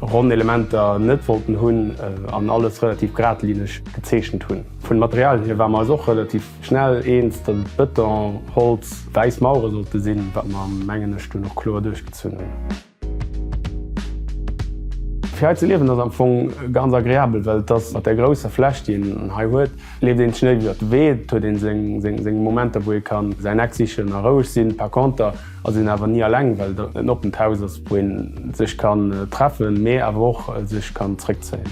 ronn Elementer net wollten hunn an alles relativ gradlineg gezeechent hunn. Vun de Materialien hier ware mer eis och relativ schnell eens, datt et Bëton, Holz, wäiss Mauere sollte sinn, wat mer, mengen ech, dunn och kloer duerchgezunn hunn. Fir hei ze liewen ass am Fong ganz agreabel, well et ass mat där grousser Fläch, déi een hei huet, leeft een sech net iwwer de Wee, et huet ee seng Momenter, wou ee ka säin Eck sichen a roueg sinn. Par conter, Also een awer nie alleng, well dat en oppent Haus ass, wou een sech kann treffen, mee awer och sech kann zréckzéien.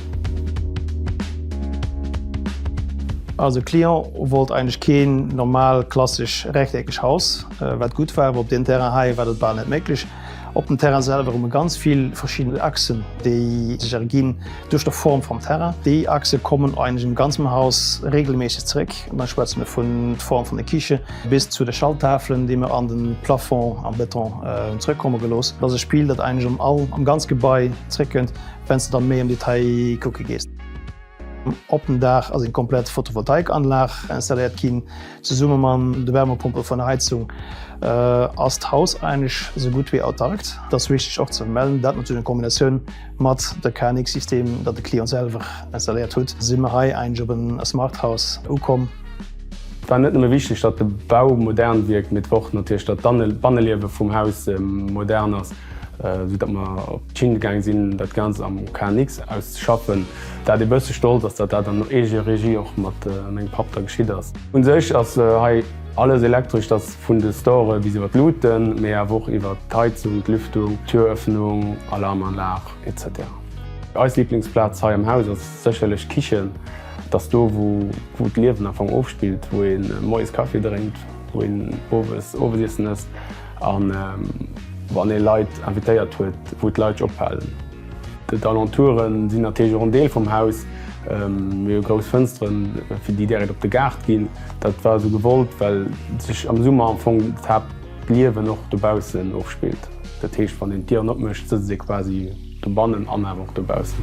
Also e Client wollt eigentlech keen normal klassesch rechteckesch Haus, wat gutt war, awer op deem Terrain hei war dat bal net méiglech. Op dem Terrain selwer hu mer ganz vill verschidden Achsen, déi sech erginn duerch der Form vum Terrain. Déi Achse kommen eigentlech am ganzem Haus regelméisseg zréck, da schwätze mer vun d'Form vun der Kiche, Bis zu de Schalttafelen, déi mer an de Plafond am Beton hunn zrëckkomme gelooss. Dat ass e Spill, dat eigentlech am all, am ganz Gebai zréckkënnt, wenn s de da méi am Detail kucke gees. Op dem Daach ass eng komplett Photovoltaikanlag installéiert ginn. Zesumme mam de Wärmepompe vun der Heizung ass d'Haus eigentlech esou gutt wéi autark. Dat ass wichteg och ze vermellen, dat natierlech a Kombinatioun Mat de KNX System dat de Client selwer installéiert hutt, si mer hei eigentlech op en Smart House ukomm. Et war net nëmme wichteg dat de Bau modern wierkt, mee et war och natierlech dat d'Banneliewe vum Haus modern ass. Sou dat mer op d'Schinn gaange sinn dat Ganzt am KNX auszeschaffen. Dat ee bësse stolz ass dat dat an Eegeregie och mat mengem Papp da geschitt ass. Un sech ass hei. Alles Elektrescht ass vun de Storë bis iwwer d'Luuten, mee awer och iwwer d'Heizung, d'Lüftung, d'Türöffnung, Alarmanlag, etc. Eis Liblingsplaz hei am Haus ass sécherlech d'Kichen. Et ass do, wou d'Liewen am Fong ofspillt, wou ee moies Kaffi drénkt, wou een owes Owesiessen ësst. A wann ee Leit invitéiert huet, wou d'Leit ophalen. D'Alentoure sinn natierlech och en Deel vum Haus. Mir hu grouss Fënsteren, fir déi direkt op de Gaart ginn. Dat war esou gewollt, well sech am Summer am Fong d'Haaptliewen och dobaussen ofspillt. Dat heescht, wann een d'Dieren opmécht, sëtzt ee quasi. Dobannen an awer och dobaussen.